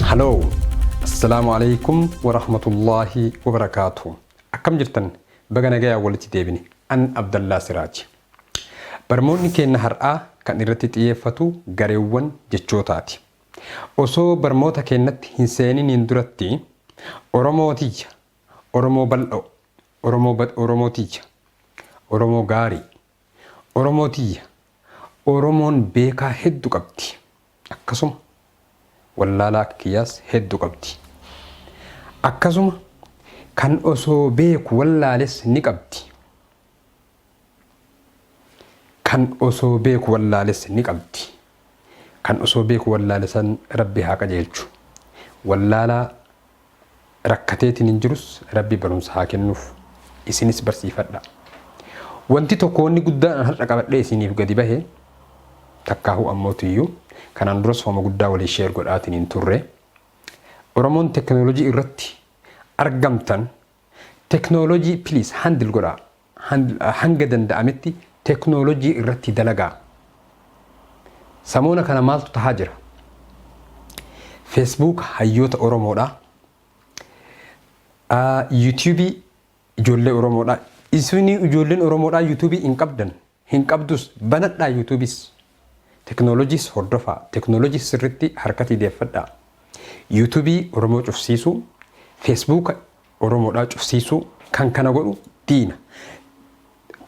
Haloo! Assalaamu alaikum warahmatullaahi wabarakaatu. Akkam jirtan? Baga nagayaan walitti deebine. An Abdallaa Siraaji. Barmoonni keenna har'aa kan irratti xiyyeeffatu gareewwan jechootaati. Osoo barmoota keennatti hin seeniniin duratti Oromoo tiyya, Oromoo bal'oo, Oromoo bad Oromoo tiyya, Oromoo gaarii, Oromoo tiyya Oromoon beekaa heddu qabdi akkasuma wallaalaa akka kiyyaas heddu qabdi. Akkasuma kan osoo beeku wallaales ni qabdi. Kan osoo beeku wallaales ni qabdi. Kan osoo beeku wallaale san Rabbi haa qajeelchu. Wallaalaa rakkateetiin hin jirus Rabbi barumsa haa kennuuf. Isinis barsiifadha. Wanti tokko wanni guddaan an har'a qabadhee isiniif gadi bahe takkaahuu ammootiyyuu kanaan duras hooma guddaa walii sheer godhaatiin hin turre. Oromoon teknoolojii irratti argamtan teknoolojii please handle godhaa. hanga danda'ametti teknoolojii irratti dalagaa. Samoona kana maaltu tahaa jira? Facebook hayyoota Oromoodha. YouTube ijoollee Oromoodha. Isin ijoolleen Oromoodha YouTube hin qabdan. Hin qabdus banadhaa yutubiis teknolojiis hordofaa teknolojiis sirritti harkatii deeffadhaa yutubii oromoo cufsiisuu fesbuuka oromoodhaa cufsiisuu kan kana godhu diina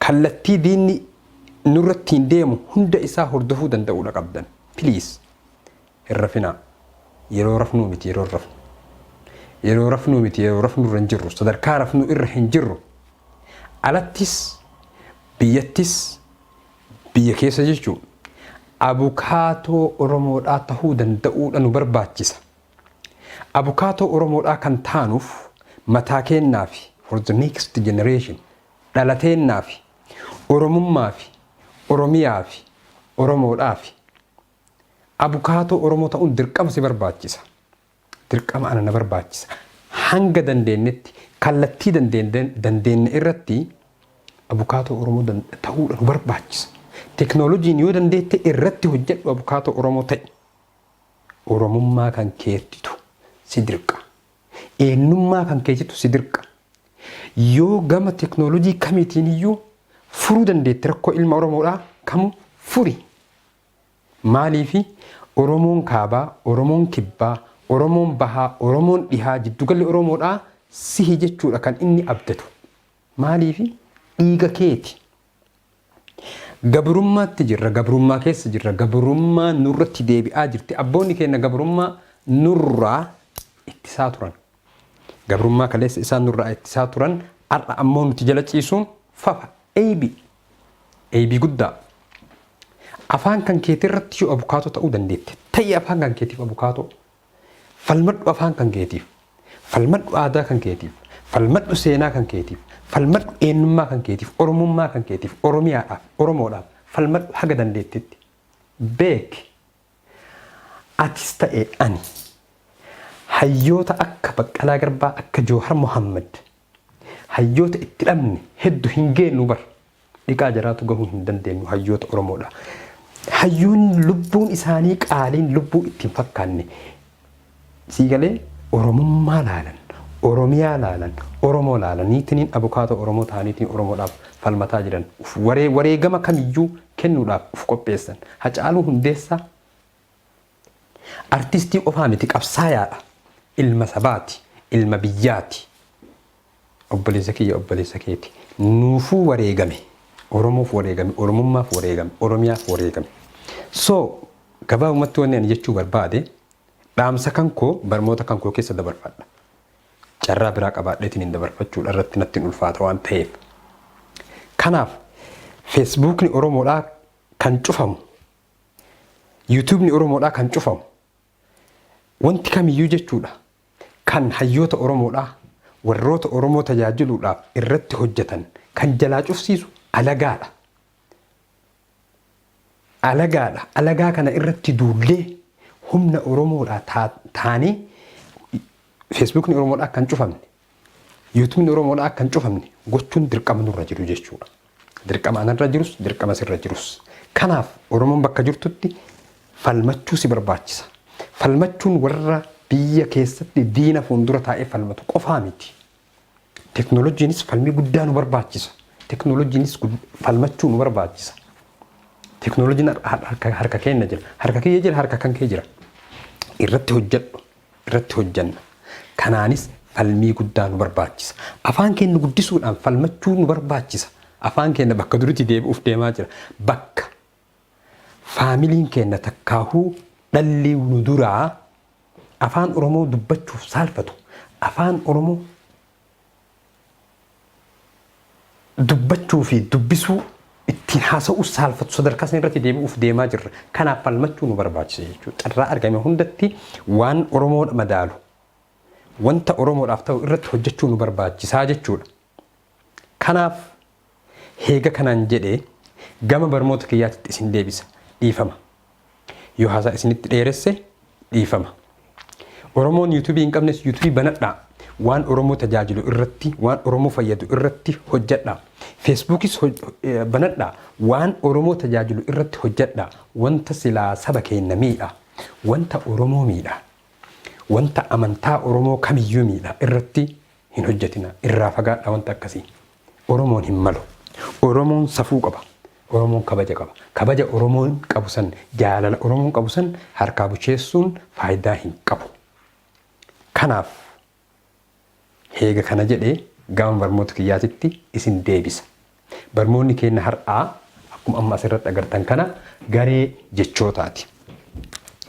kallattii diinni nurrattiin deemu hunda isaa hordofuu danda'uudha qabdan please Hin rafinaa. Yeroo rafnuu miti yeroo hin rafnu. Yeroo rafnuu miti yeroo rafnu irra hin jirru. Sadarkaa rafnuu irra hin jirru. Alattis, biyyattis, biyya keessa jechuu abukaatoo Oromoodhaa tahuu danda'uudha nu barbaachisa. Abukaatoo Oromoodhaa kan taanuuf mataa keennaafi for the next generation dhala teennaafi Oromummaafi Oromiyaafi Oromoodhaafi. Abukaatoo Oromoo ta'uun dirqama si barbaachisa. Dirqama ana na barbaachisa. Hanga dandeennetti kallattii dandeenye irratti abukaatoo Oromoo ta'uudha nu barbaachisa. Teknooloojiin yoo dandeette irratti hojjedhu abukaatoo Oromoo ta'i. Oromummaa kan keettitu si dirqa. Eenyummaa kan keetitu si dirqa. Yoo gama teknooloojii kamiitiin iyyuu furuu dandeetti rakkoo ilma Oromoodhaa kamu furi. Maaliif Oromoon Kaabaa, Oromoon Kibbaa, Oromoon Bahaa, Oromoon Dhihaa jiddugalli Oromoodhaa sihi jechuudha kan inni abdatu. Maaliif dhiiga keeti. Gabrummaatti jirra, gabrummaa keessa jirra, gabrummaan nurratti deebi'aa jirti. Abboonni keenya gabrummaa nurraa ittisaa turan. Gabrummaa kaleessa isaan nurraa ittisaa turan har'a ammoo nuti jala ciisuun fafa, eeybi. Eybii guddaa! Afaan kan keetii irratti yoo abukaatoo ta'uu dandeette, ta'i afaan kan keetiif abukaatoo. Falmadhu afaan kan keetiif. Falmadhu aadaa kan keetiif. Falmadhu seenaa kan keetiif. Falmadhu eenyummaa kan keetiif, Oromummaa kan keetiif, Oromiyaadhaaf, Oromoodhaaf falmadhu haga dandeettetti. Beeki! Atis ta'e ani hayyoota akka Baqqalaa Garbaa, akka Joohar Mohaammad, Hayyoota itti dhabne heddu hin geennu bar. Dhiqaa jaraatu gahuu hin dandeennu hayyoota Oromoodha. Hayyoonni lubbuun isaanii qaaliin lubbuu itti hin fakkaanne sii galee Oromummaa laalan, Oromiyaa laalan, Oromoo laalaniitiniin abukaatoo Oromoo ta'aniitiin Oromoodhaaf falmataa jiran. Uf waree wareegama kamiyyuu kennuudhaaf uf qopheessan. Hacaaluu Hundeessaa Artistii qofaa miti qabsaayaadha. Ilma sabaati. Ilma biyyaati. Obboleessa kiyya obboleessa keeti. Nuufuu wareegame. Oromoof wareegame. Oromummaaf wareegame. Oromiyaaf wareegame. So gabaabumatti wanni ani jechuu barbaade dhaamsa kan koo barmoota kan koo keessa dabarfadha. Carraa biraa qabaadheetiin hin dabarfachuudha irratti natti hin ulfaata waan ta'eef. Kanaaf feesbuukni Oromoodhaa kan cufamu Yuutuubni Oromoodhaa kan cufamu wanti kamiyyuu jechuudha kan hayyoota Oromoodhaa warroota Oromoo tajaajiluudhaaf irratti hojjetan kan jalaa cufsiisu alagaadha. Alagaadha. Alagaa kana irratti duullee humna Oromoodhaa taanee Feesbuukni Oromoodhaa kan cufamne Yuutuubni Oromoodhaa akka hin cufamne gochuun dirqama nurra jiru jechuudha. Dirqama anarra jirus, dirqama sirra jirus. Kanaaf Oromoon bakka jirtutti falmachuu si barbaachisa. Falmachuun warra biyya keessatti diina fuuldura taa'ee falmatu qofaa miti. Teknooloojiinis falmii guddaa nu barbaachisa. Teknooloojiinis falmachuu nu barbaachisa. Teknooloojiin harka keenya jira. Harka kiyya jira, harka kan kee jira. Irratti hojjedhu. irratti hojjenna. Kanaanis falmii guddaa nu barbaachisa. Afaan keenya guddisuudhaan falmachuu nu barbaachisa. Afaan keenya bakka duritti deebi'uuf deemaa jira. Bakka faamiliin keenya takkaahuu dhalli nu duraa afaan Oromoo dubbachuuf saalfatu, afaan Oromoo dubbachuu fi dubbisuu ittiin haasa'uu saalfatu sadarkaa sana irratti deebi'uuf deemaa jirra. Kanaaf falmachuu nu barbaachisa jechuudha. Carraa argame hundatti waan Oromoodha madaalu wanta Oromoodhaaf ta'u irratti hojjechuu nu barbaachisaa jechuudha. Kanaaf Heega kanaan jedhe gama barmoota kiyyaatitti isin deebisa. Dhiifama. Yoo haasaa isinitti dheeresse dhiifama. Oromoon yuutuubii hin qabnes yuutuubii banadhaa. Waan Oromoo tajaajilu irratti, waan Oromoo fayyadu irratti hojjadhaa. Feesbuukis banadhaa. Waan Oromoo tajaajilu irratti hojjadhaa. Wanta silaa saba keenna miidha. Wanta Oromoo miidha. Wanta amantaa Oromoo kamiyyuu miidha irratti hin hojjatinaa irraa fagaadhaa wanta akkasii oromoon hin malu oromoon safuu qaba oromoon kabaja qaba kabaja oromoon qabu san jaalala oromoon qabu san harkaa bucheessuun faayidaa hin qabu kanaaf heega kana jedhee gama barmoota kiyyaatitti isin deebisa barmoonni keenya har'aa akkuma amma asirratti agartan kana garee jechootaati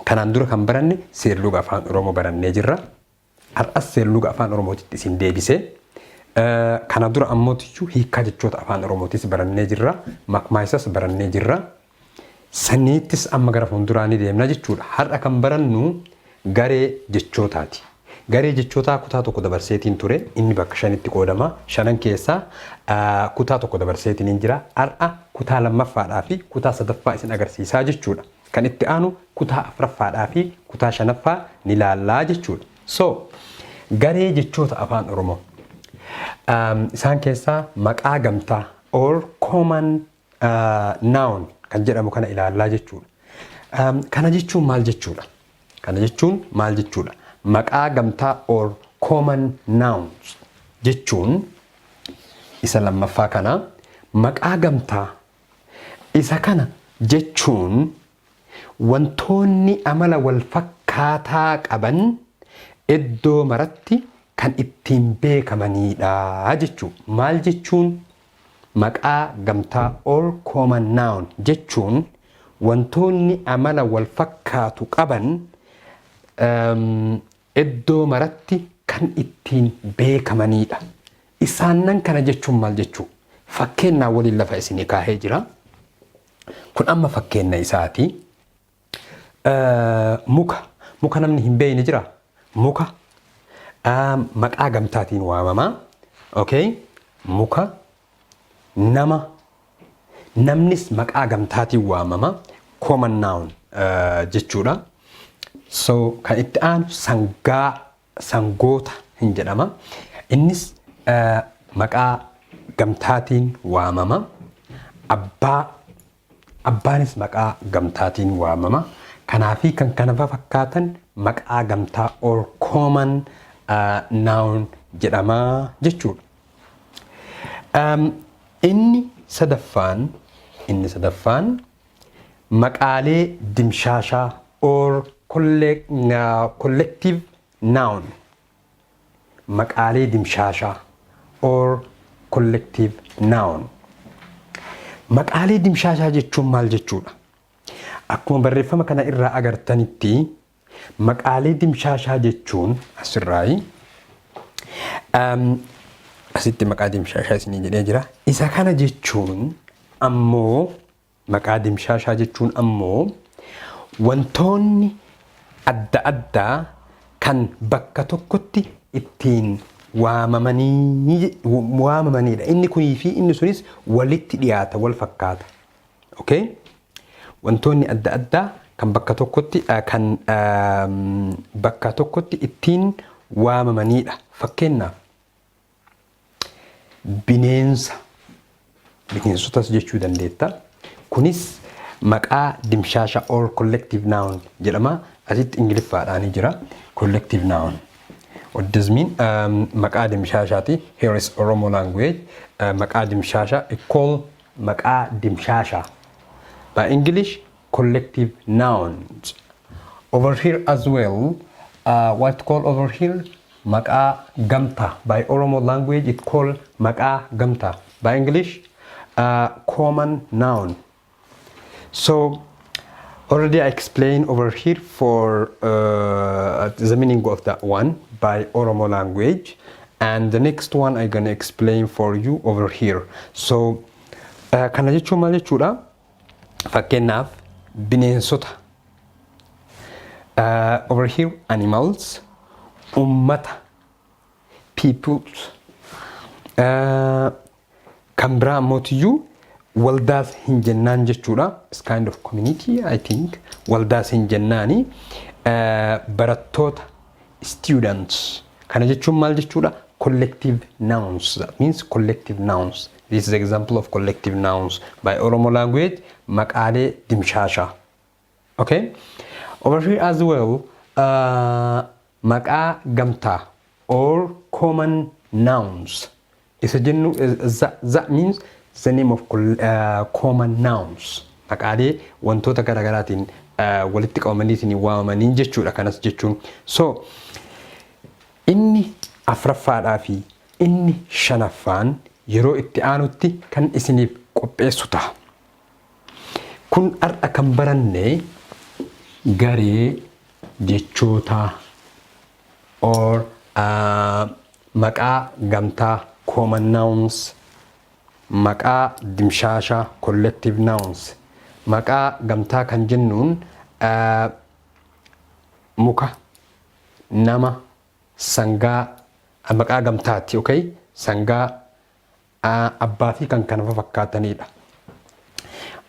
kanaan dura kan baranne seerluga afaan oromoo barannee jirra Har'as seerluga Afaan Oromootitti isin deebise. Kana dura ammootiyyuu hiikkaa jechoota Afaan Oromootis barannee jirra. Makmaaysas barannee jirra. Saniittis amma gara fuulduraa ni deemna jechuudha. Har'a kan barannu garee jechootaati. Garee jechootaa kutaa tokko dabarseetiin ture. Inni bakka shanitti qoodama. Shanan keessaa kutaa tokko dabarseetiin hin jira. Har'a kutaa lammaffaadhaa fi kutaa sadaffaa isin agarsiisaa jechuudha. Kan itti aanu kutaa afraffaadhaa fi kutaa shanaffaa ni laallaa jechuudha. So, garee jechoota afaan Oromoo. Um, isaan keessaa maqaa gamtaa or common uh, noun kan jedhamu kana ilaallaa jechuudha. Um, kana jechuun maal jechuudha? Kana jechuun maal jechuudha? Maqaa gamtaa or common nouns jechuun isa lammaffaa kana maqaa gamtaa Isa kana jechuun wantoonni amala wal fakkaataa qaban eddoo maratti kan ittiin beekamanii dha jechuu. Maal jechuun? Maqaa gamtaa, all common noun, jechuun wantoonni amala wal fakkaatu qaban Eddoo maratti kan ittiin beekamanii dha. Isaannan kana jechuun maal jechuu? Fakkeennaa waliin lafa isinii kaahee jira. Kun amma fakkeenna isaati. Muka. Muka namni hin beeyne jira? Muka. Maqaa gamtaatiin waamama. Okay. Muka nama, namnis maqaa gamtaatiin waamama. Common noun eh, jechuudha. So kan itti aanu sangaa, sangoota hin jedhama. Innis eh, maqaa gamtaatiin waamama. Abbaa Abbaanis maqaa gamtaatiin waamama. Kanaa fi kan kana fafakkaatan maqaa gamtaa or common noun jedhama jechuudha. Inni sadaffaan inni sadaffaan maqaalee dimshaashaa or collective noun maqaalee dimshaashaa or collective noun. Maqaalee dimshaashaa jechuun maal jechuudha? Akkuma barreeffama kana irraa agartanitti maqaalee dimshaashaa jechuun asirraayi. Asitti maqaa dimshaashaa isinii jedhee jira. Isa kana jechuun ammoo Maqaa dimshaashaa jechuun ammoo wantoonni adda addaa kan bakka tokkotti ittiin waamamanii waamamaniidha. Inni kunii fi inni sunis walitti dhiyaata, wal fakkaata. Okay? Wantoonni adda addaa kan bakka tokkotti eh, kan ehm, bakka tokkotti ittiin waamamaniidha. Fakkeenyaaf bineensa bineensotas jechuu dandeetta. Kunis maqaa dimshaasha all collective noun jedhama. Asitti ingiliffaadhaan jira. Collective noun. What does mean? Um, maqaa dimshaashaati. Here is Oromo language. Uh, maqaa dimshaasha. Call maqaa dimshaasha. By English, collective nouns over here as well uh, what to call over here maqaa gamta by oromo language it call maqaa gamta by english uh, common noun so already i explained over here for uh, the meaning of that one by oromo language and the next one i gonna explain for you over here so uh, kana jechuun maal jechuudha Fakkeenyaaf bineensota uh, over here animals ummata peoples uh, kan biraa mootiyyuu waldaas hin jennaan jechuudha is kind of community i think waldaas hin jennaani uh, barattoota students kana jechuun maal jechuudha collective nouns that means collective nouns This is example of collective nouns by Oromo language maqaalee dimshaashaa. Okay? Over here as well uh, maqaa gamtaa or common nouns isa jennu eh, za, za means the name of col- uh, common nouns maqaalee wantoota garaagaraatiin uh, walitti qabamaniitiin waamamaniin jechuudha kanas jechuun so inni afraffaadhaa fi Inni shanaffaan yeroo itti aanutti kan isiniif qopheessu taha. Kun har'a kan baranne garee jechootaa or maqaa gamtaa, common nouns, maqaa dimshaashaa, collective nouns, maqaa gamtaa kan jennuun muka, nama, sangaa a maqaa gamtaati ok sangaa a abbaa fi kan kana fafakkaataniidha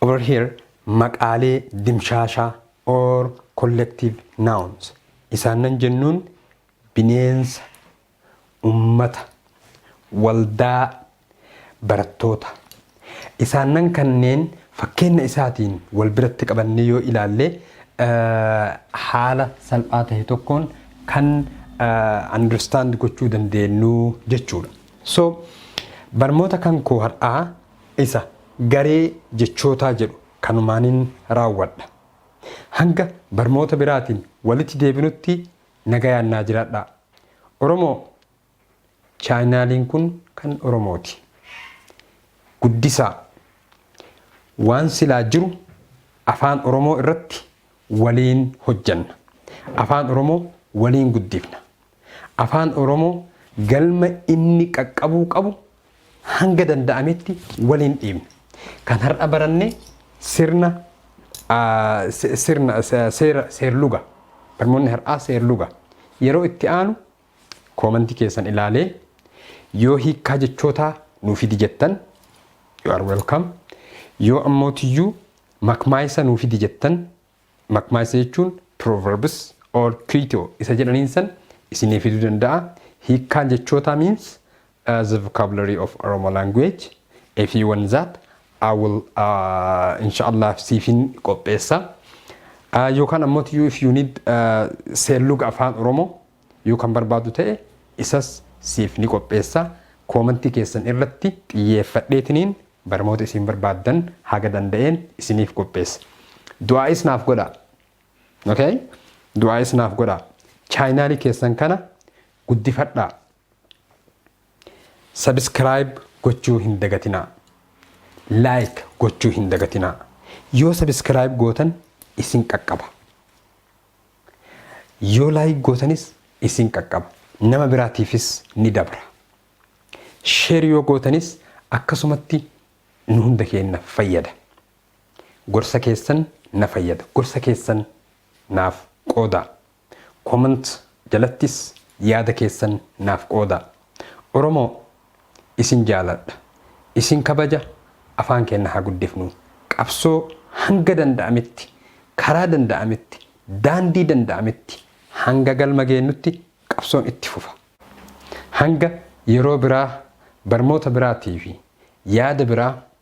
over here maqaalee dimshaashaa or collective nouns isaannan jennuun bineensa ummata waldaa Barattoota, isaannan kanneen fakkeenna isaatiin wal biratti qabannee yoo ilaalle haala salphaa tahe tokkoon kan understand gochuu dandeennu jechuu dha. So, barmoota kan koo har'aa isa garee jechootaa jedhu kanumaanin raawwadha. Hanga barmoota biraatiin walitti deebinutti nagayaan naa jiraadhaa. Oromoo Chaayinaaliin kun kan Oromooti. Guddisaa! Waan silaa jiru Afaan Oromoo irratti waliin hojjanna. Afaan Oromoo waliin guddifna. Afaan Oromoo galma inni qaqqabuu qabu hanga danda'ametti waliin dhiibna. Kan har'a baranne sirna sirna seera seerluga. Barmoonni har'aa seerluga. Yeroo itti aanu Koomantii keessan ilaalee yoo hiikkaa jechootaa nuu fidi jettan you are welcome. Yoo ammootiyyuu makmaayisa nuu fidi jettan makmaayisa jechuun proverbs or kuitoo isa jedhaniin san isinii fiduu danda'a. Hiikkaan jechootaa means the vocabulary of Oromo language a few ones that I will uh, inshallah siifin qopheessa uh, yookaan ammoo you if you need uh, seerluga afaan Oromoo yoo kan barbaadu ta'e isas siif ni qopheessa koomantii keessan irratti xiyyeeffadheetiniin barmoota isin barbaaddan haga danda'een isiniif qopheessa du'aa isnaaf godha okay du'aa isnaaf godha chaayinaalii keessan kana guddifadhaa Subscribe gochuu hin dagatinaa. Like gochuu hin dagatinaa. Yoo subscribe gootan isin qaqqaba. Yoo like gootanis isin qaqqaba. Nama biraatiifis ni dabra. Share yoo gootanis akkasumatti nu hunda keenya fayyada. Gorsa keessan na fayyada. Gorsa keessan naaf qoodaa. Comment jalattis yaada keessan naaf qoodaa. Oromoo isin jaaladha. Isin kabaja afaan keenna haa guddifnuu. Qabsoo hanga danda'ametti, karaa danda'ametti, daandii danda'ametti hanga galma geennutti qabsoon itti fufa. Hanga yeroo biraa barmoota biraatii fi yaada biraa